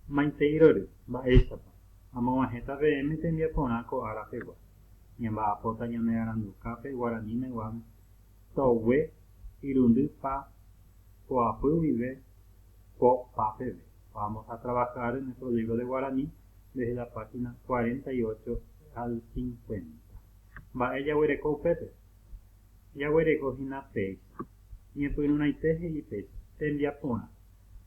Maiteirory, mba'éichapa, amoguahẽta peẽme tembiaporã ko ára pegua, ñamba'apóta ñanearandukápe guaraníme guáme, togue, irundy pa, poapy guive, po, pa peve. Vamos a trabajar en nuestro libro de guaraní desde la página cuarenta y ocho al cincuenta. Mba'e jaguereko upépe? Jaguereko hína péicha. Ñepyrũraite he'i péicha, tembiaporã.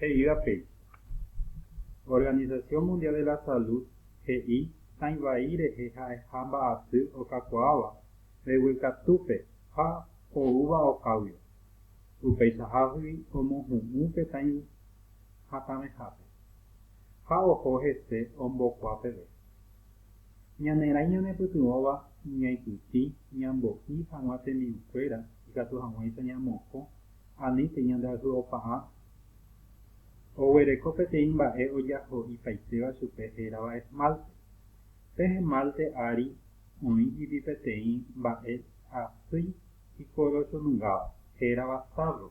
He'íva péicha. Organización Mundial de la Salud he'i tãi vai rehe ha'eha mba'asy okakuaáva mbeguekatúpe ha oúva okáguiva. Upeichahagui omohu'ũ pe tãi hatãvehápe ha oho hese ombokua peve. Ñanerãi ñanepytyvõva ñaipytĩ ñambo'i hag̃ua tembi'ukuéra ikatu hag̃uáicha ñamokõ Ani peñandeayhu'opa'a oguereko peteĩ mba'e ojaho'ipaitéva chupe hérava esmalte. Pe esmalte ári oĩ ipi peteĩ mba'e asy ikorochonungáva, hérava sárro.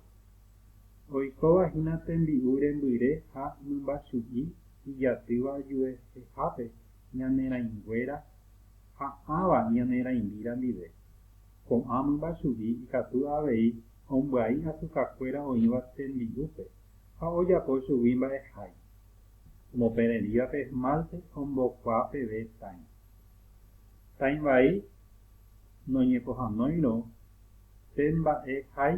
Oikóva hína tembi'u rembyre ha mymbachu'i ijatýva juehehápe ñanerãinguéra ha ãva ñanerãimíra ndive. Ko'ã mymba chugui ikatu avei ombyai asukakuéra oĩva tembi'úpe ha ojapo chugui mba'ehái. Omopererĩva pe esmálte ombokuaa peve tãi. Tãi vai noñepohãnoirõ pe mba'ehái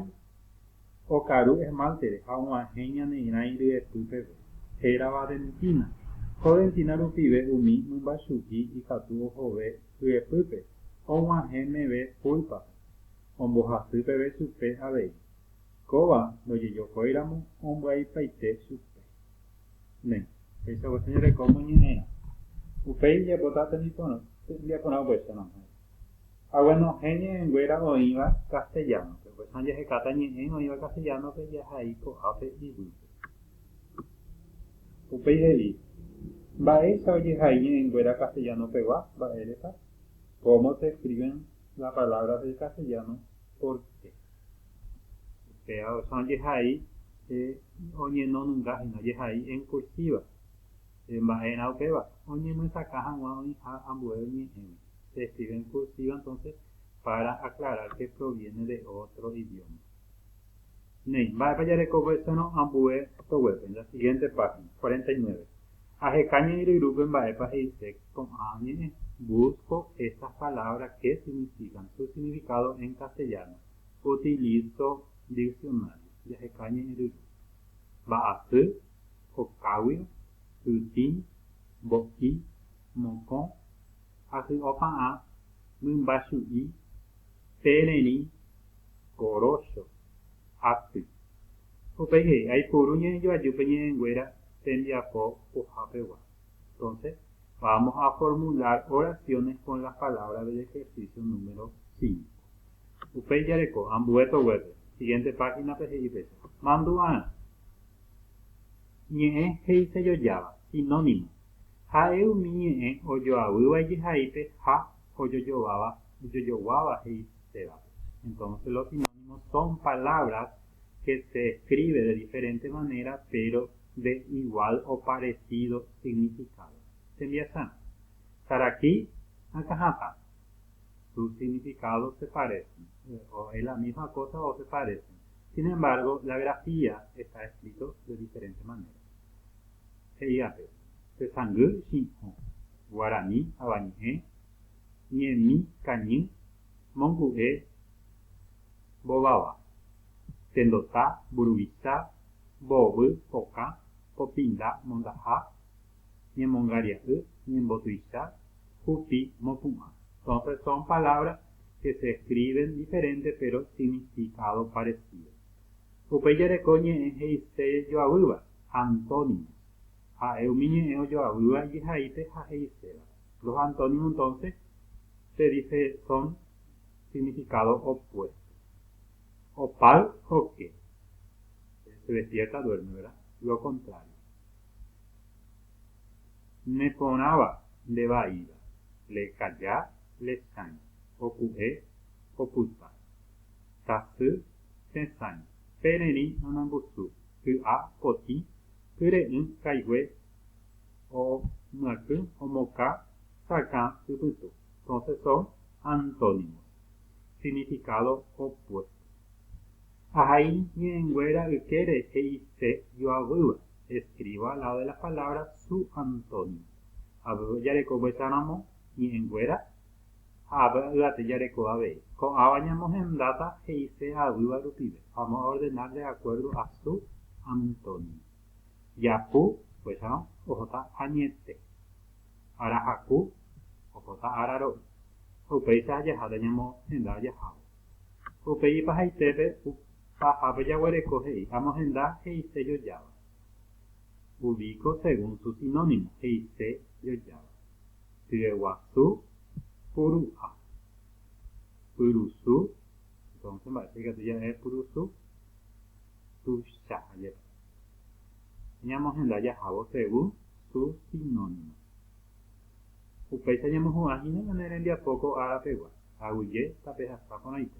okaru esmáltere ha og̃uahẽ ñaneirãi ryepy peve. Hérava dentína. Ko dentína rupive umi mymba chugui ikatu ohove ryepýpe og̃uahẽ meve púlpape, ombohasy peve chupe avei, kóva ndojejokóiramo ombyaipaite chupe. Ne. Péicha voi jajereko moñe'ẽrã. Upéi ijapóta tembiaporã oguecha nohẽ. Hague nohẽ ñe'ẽnguéra oĩva castellano-pe, upéicharõ jahekáta ñe'ẽ oĩva castellano-pe jahai ko'ápe ivýpe. Upéi he'i, Mba'éicha ojehai ñe'ẽnguéra castellano-pegua? Mba'érepa? Cómo se escriben las palabras del castellano? Por qué? Upéva oĩha ojehai oñenonunga hína, ojehai en cursiva. Mba'erã upéva? Oñemyesakã hag̃ua oĩha ambue ñe'ẽme. Se escribe en cursiva entonces para aclarar que proviene de otro idioma. Néi, mba'épa jarekovéserõ ambue soguépe? La siguiente página, cuarenta y nueve. Aheka ñe'ẽryrúpe mba'épa he'ise ko'ã ñe'ẽ. Busco estas palabras que significan su significado en castellano. Utilizo diccionario. Jaheka ñe'ẽryru. Mba'asy, kokáguio, ytĩ, mbo'i, mokõ, ahy'opa'ã mymba chu'i pe rerĩ gorócho aty. Upéi he'i, Aipuru ñe'ẽjoaju pe ñe'ẽnguéra tembiapo pohápegua. Entonse, vamos a formular oraciones con las palabras del ejercicio número cinco. Upéi jareko, ambue toguépe, siguiente página-pe he'i péicha, Mandu'arã. Ñe'ẽ he'isejojáva, sinónimo. Ha'e umi ñe'ẽ ojoavýva ijehaípe ha ojojováva, ojojoguáva he'i pévape. Entonce los sinónimos son palabras que se escribe de diferente manera pero de igual o parecido significado. Tembiasa. Saraki akã hatã. Sus significados se parecen, o es la misma cosa o se parecen. Sin embargo, la grafía está escrito de diferente manera. he'iape, Tesangy Chin'ho, Guarani Avañe'ẽ, Ñemi Kañy, Mongu'e Mbováva, Tendota Mburuvicha, Mboovy Pokã, Popinda Mondaha, Ñemongaria'y, Ñembotuicha, Hupi Mopu'ã. Son son palabras que se escriben diferente pero significado parecido. Upéi jareko ñe'ẽ he'ise joavýva, antónimo. Ha'e umi ñe'ẽ ojoavýva ijehaípe ha he'iséva. Los antónimo entonce se dice son significado opuesto. Opal, oke. Se despierta, duerme, verá? Lo contrario. Ne porãva, nde vaíva. Le calla, le chãi. Opu'e, opyta. Tasy, Tetãi, pererĩ nanambusu, ky'a, potĩ, kyre'ỹ, kaigue, o, myakỹ, omoka, sakã, ypytu. Entonces son antónimos. Significado opuesto. Ahai ñe'ẽnguéra ykére he'ise joavýva, escriba al lado de las palabras su antónimo. Aveve ojarekova'ekáramo ñe'ẽnguéra ha avy yvate jareko avei. Ko'ãva ñamohendáta he'ise avyva rupive, amo'ordena de acuerdo a su antonia. Japu, upéicharõ, ohóta añete. Arahaku, ohóta araro'y. Ha upéicha ajaháta ñamohenda ajahávo. Upéi ipahaitépe pahápe jaguereko he'i amohenda he'ise jojáva. Ubico según su sinónimo, he'ise jojáva. Tyeguasu puru'a. Pyrusu, entonces mba'épa ikatu ja'e pyrusu? Tuichaha jepe. Ñamohenda jahávo según su sinónimo. Upéicha ñamohu'ã hína ñane rembiapo ko árapegua, aguyje tapehasa porãite.